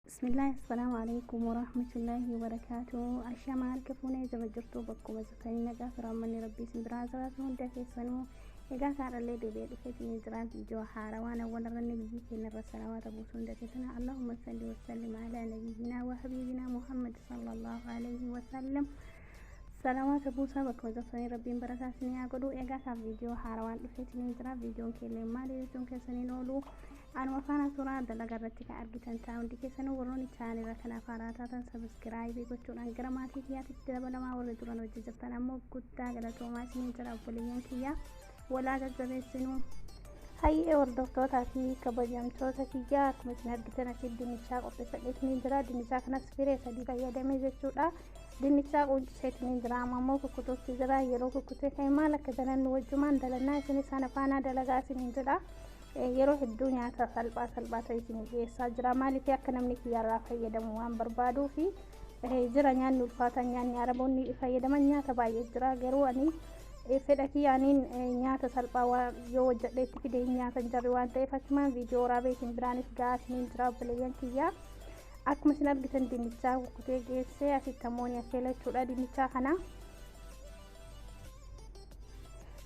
Bismillah assalaamu alaikum warahmatullahi wabarakaatu Ashamaa harka fuunee jaba jirtuu bakkuma jirtanii nagaa fi raammanni rabbii isin biraa jiraatu hunda keessanuu egaa saadhallee deebi'ee dhufeetiin ni jira viidiyoo haarawaan awwalarranne biyyi keenya irra salawaata buusu hunda keessana Allahumma salli wa sallim ala nabiyyinaa wa habiibinaa Muhammad sallallahu alaihi wa sallam salawaata buusaa bakkuma jirtanii rabbiin barakaa isin haa godhu egaa saaf viidiyoo haarawaan dhufeetiin ni jira viidiyoon keellee maali jechuun keessaniin oolu Anuma faana turaa dalaga irratti kan argitan ta'a hundi keessanuu warroonni chaanila kana faaraa taatan sabiskiraayibii gochuudhaan gara maatii kiyyaatitti dabalamaa warri duran hojii jirtan ammoo guddaa galatoomaa isiniin jira obboleeyyan kiyyaa walaa jajjabeessinuu. Hayyee hordoftootaa fi kabajamtoota kiyyaa akkuma isin argitan asiif dinnichaa qopheeffadhee isiniin jira dinnichaa kanas firee sadii fayyadamee jechuudha. Dinnichaa quncee isiniin jira amma immoo kukkutuutti jira yeroo kukkutee ka'e maal akka dalannu wajjumaan dalannaa isinis ana faanaa dalagaa isiniin jira. Yeroo hedduu nyaata salphaa salphaa ta'e isinii dhiyeessaa jira. Maaliif akka namni kiyyaarraa fayyadamu waan barbaaduu fi jira nyaanni ulfaataan nyaanni araboonni fayyadaman nyaata baay'ee jira. Garuu ani fedha kiyyaaniin nyaata salphaa waan yoo hojjedhee itti fidee nyaata hin jirre waan ta'eef achumaan viidiyoo waraabee isin biraanis ga'aa isiniin jira obboleeyyan kiyyaa. Akkuma isin argitan dinnichaa kukkutee geessee asitti ammoo ni affeela jechuudha dinnichaa kana.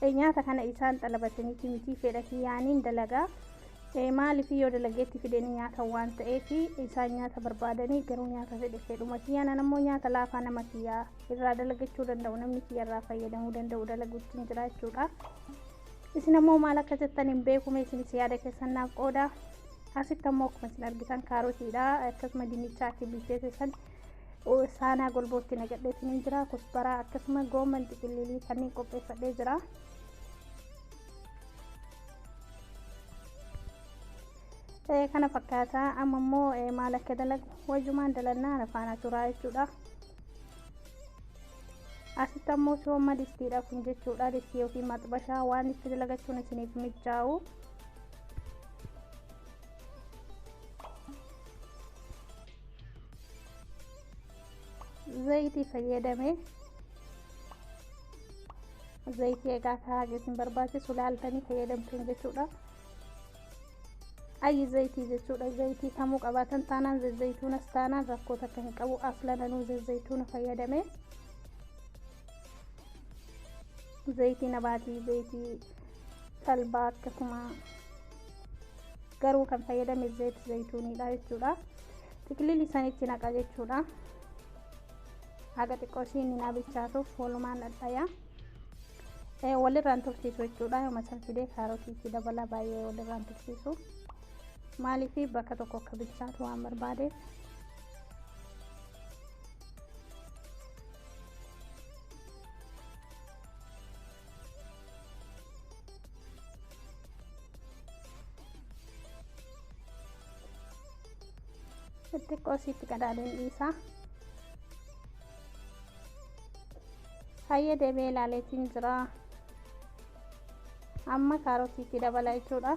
e nyaata kana isaan xalabataniiti mitii fedha kiyyaaniin dalagaa e maaliif yoo dalageetti fideen nyaata waan ta'eef isaan nyaata barbaadanii garuu nyaata fedhe fedhuma kiyyaan an ammoo nyaata laafaa nama kiyyaa irraa dalagachuu danda'u namni kiyya irraa fayyadamuu danda'u dalaguutiin jira jechuudha isin ammoo maal akka jettan hin beekume isinis yaada keessan naaf qooda asitti ammoo akkuma isin argitan kaarotiidha akkasuma dinnichaa akka bilcheesse san saanaa golbootti naqadhee isiniin jira kusbaraa akkasuma gooman xiqillilii kanneen qopheeffadhee jira kana fakkaata amma immoo maal akka dalagu wayumaan dalannaa nafaana turaa jechuudha asitti ammoo sooma distiidha kun jechuudha distii yookiin maxbashaa waan itti dalagachuun isiniif mijaa'u zayitii fayyadame zayitii egaa akka haga isin barbaachisu laaltanii fayyadamtan jechuudha ayyi zayitii jechuudha zayitii kamuu qabaatan taanaan zazzayituunas taanaan rakkoo takka hin qabu aflananuu zazzayituuna fayyadame zayitii nabaatii zayitii talbaa akkasuma garuu kan fayyadame zayit zayituuniidha jechuudha xiqilili sanitti naqa jechuudha haga xiqqoo isiin hin abichaasuuf walumaan dhadhaya walirraan tursiisu jechuudha yooma san fidee kaarotii itti dabala baay'ee walirraan tursiisu maaliif bakka tokko akka bilchaatu waan barbaadeef xixiqqoo isiitti qadaadeen dhiisaa hayyee deebee ilaaleetiin jira amma kaarotiitti dabala jechuudha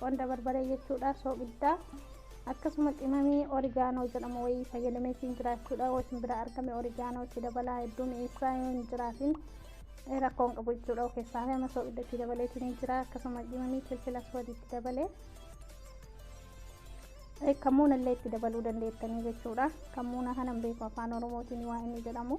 Qonda barbaree jechuudha soogiddaa. Akkasuma qimamii origaanoo jedhamu wayii fayyadamee siin jiraachuudha. Yoo isin bira argame origaanoo itti dabalaa hedduu mi'eessaa yoo hin jiraatin rakkoo hin qabu jechuudha. Of keessaa fi amma soogidda itti dabalee isin jira. Akkasuma qimamii filfila soodii itti dabalee. Kammuuna illee itti dabaluu dandeettanii jechuudha. Kammuuna kanan beeku afaan Oromootiin waa inni jedhamu.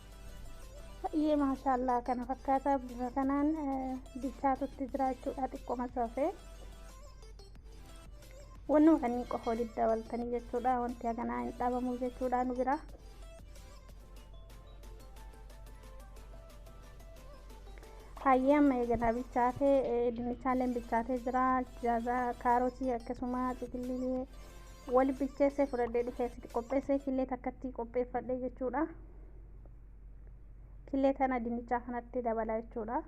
Baay'ee maashaallaa kana fakkaata bifa kanaan bilchaatutti jira jechuudha xiqqoma soofee. Wanni kanneen qofa walitti dabaltanii jechuudha wanti haganaa hin dhabamu jechuudha nu bira. Hayyee amma eeganaa bilchaatee dinnichaaleen bilchaatee jira jaaza kaarotii akkasuma xiqillee wali bilcheessee fudhadhee dhufee sitti qopheessee killee takkatti qopheeffadhee jechuudha. killee kana dinnichaa kanatti dabalaa jechuudha.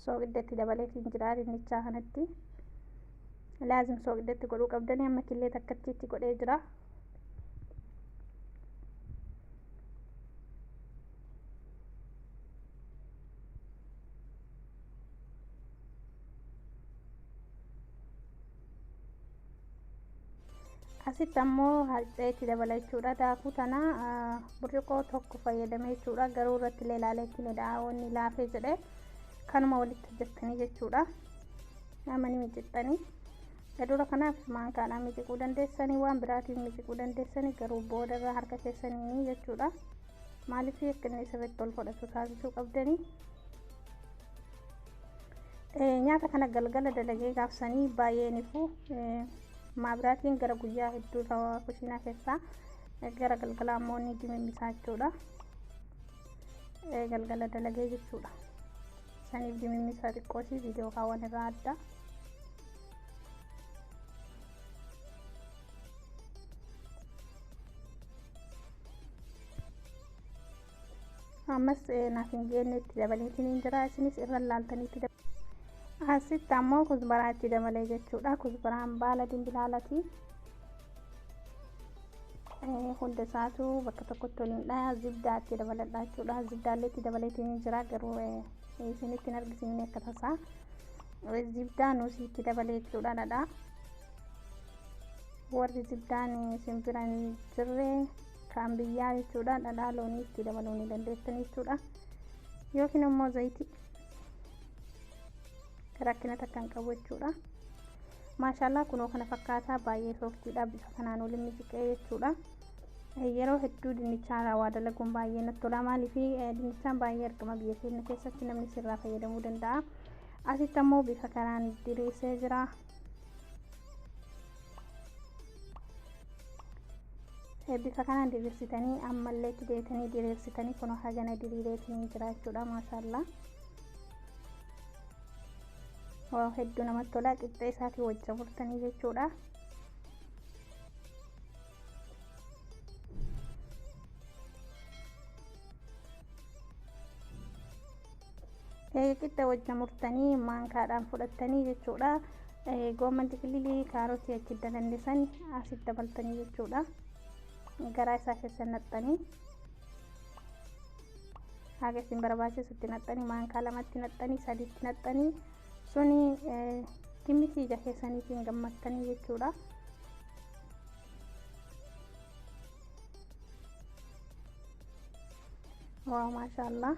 sooqiddatti dabaleetiin jira dinnichaa kanatti laazim sooqiddatti godhuu qabdanii amma killee takkattiitti godhee jira. asitti ammoo harcee itti dabala jechuudha daakuu tana burcuqoo tokko fayyadame jechuudha garuu irratti illee ilaalee itti midhaa'oonni laafee jedhe kanuma walitti hojjettanii jechuudha namani micixxanii gadura kanaaf maankaadhaan miciquu dandeessanii waan biraatiin miciquu dandeessanii garuu boodarra harka keessanii jechuudha. maaliif akka inni sirriitti ol fudhatu taasisuu qabdanii nyaata kana galgala dalagee gaafsanii baay'een ifuu maabiraatiin gara guyyaa hedduu ta'aa kushiinaa keessaa gara galgalaa immoo ni dimimmisaa jechuudha galgala dalagee jechuudha saniif dimimmisaa xiqqootii viidiyoo kaawwan irraa adda ammas naaf hin geenne itti dabaleetiin hin jira isinis irra laaltanii itti dabalee asitti ammoo kuzbaraa itti dabalee jechuudha kuzbaraan baala dimbilaalati hunda isaatu bakka tokkotti waliin dhaya zibdaa itti dabaladha jechuudha zibdaallee itti dabaleetiin hin jira garuu isinitti hin argisiifne akka tasaa zibdaa nuusii itti dabalee jechuudha dhadhaa warri jiddaan isin bira hin jirre kan biyyaa jechuudha dhadhaa loonii itti dabaluu ni dandeessan jechuudha yookiin immoo zayitii rakkina takka hin qabu jechuudha maashaallah kunoo kana fakkaataa baay'ee sooftiidha bifa kanaan waliin mijiqee jechuudha yeroo hedduu dinnichaa waa dalaguun baay'ee natti tola maaliif dinnichaan baay'ee argama biyya keenya keessatti namni sirraa fayyadamuu danda'a asitti ammoo bifa kanaan diriisee jira bifa kanaan diriirsitanii ammallee itti deebitanii diriirsitanii kun hagana diriireetiniin jiraachuudha maashaallaa waa hedduu namatti tolaa qixxee isaatii wajja murtanii jechuudha Qixxa wajjin murtanii maankaadhaan fudhattanii jechuudha. Goomman xiqililii kaarotii achi dalandisan asitti dabaltanii jechuudha. Garaa isaa keessa naqxanii haga isin barbaachisutti naqxanii maankaa lamatti naqxanii sadiitti naqxanii suni kimmisi ija keessaniitiin gammattanii jechuudha. Waaw maashaallah.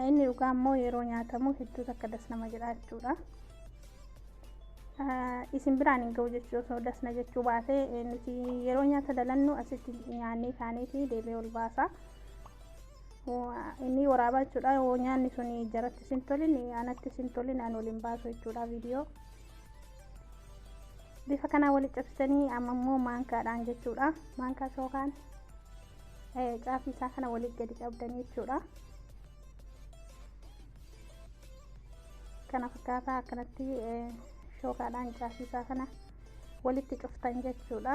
inni dhugaa immoo yeroo nyaatamu hedduu takka das nama jedha jechuudha. Isin biraan hin ga'u jechuu osoo das na jechuu baate nuti yeroo nyaata dalannu asitti nyaannee kaaniiti deebi'ee ol baasa. Inni waraabaa jechuudha yoo nyaanni sun jarattis hin tolin anattis hin tolin an ol hin baasu jechuudha viidiyoo. bifa kanaa walitti cabsitanii amma immoo maankaadhaan jechuudha maankaa sookaan caafii isaa kana walitti gadi qabdanii jechuudha kana fakkaataa akkanatti shookaadhaan caafii isaa kana walitti cuftan jechuudha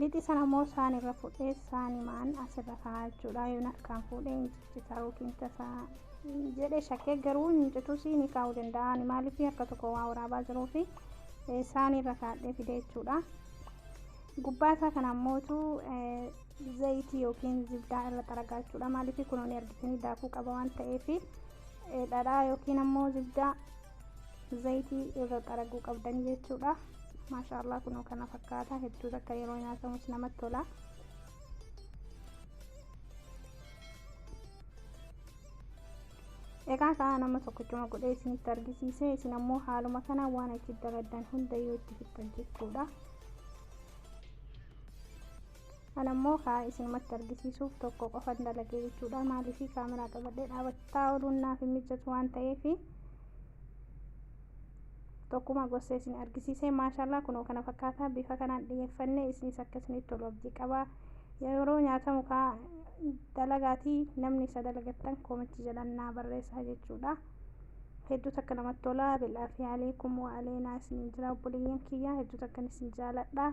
Lixa sana immoo saani irra fuudhee saanimaan asirra kaa'aa jechuudha. Yoon harkaan fuudhee hin ciccitaa yookiin tasaa jedhee shakkee garuu hin citus ni kaa'uu danda'a. Ani maaliif harka tokko waa waraabaa jiruu fi saanii irra kaa'adhee fidee jechuudha. Gubbaa isaa kana ammootu zayitii yookiin zibdaa irra xaragaa jechuudha. Maaliif kunuun argitanii daakuu qaba waan ta'eef dhadhaa yookiin ammoo zibdaa zayitii irra xaraguu qabdanii jechuudha maashaallah kunoo kana fakkaata hedduu takka yeroo nyaatamus namatti tola egaa ka'a nama tokkochuma godhee isinitti argisiise isin ammoo haaluma kana waan achi daladdan hunda yoo itti fixxan jechuudha Ana immoo kaa isinumatti argisiisuuf tokko qofan dalagee jechuudha. Maaliif kaameraa qabadhee dhaabachaa ooluun naaf hin mijjatu waan ta'eef tokkuma gosa isin argisiisee maashaallah kunoo kana fakkaataa bifa kanaan dhiyeeffannee isinis akka isinitti tolu abdii qaba. Yeroo nyaatamu kaa dalagaatii namni isa dalagattan koomitti jalan naa barreessaa jechuudha. Hedduu takka namatti tola. Bil'aafi aleekum wa aleenaa isiniin jira obboleeyyan kiyya hedduu takkan isin jaaladha.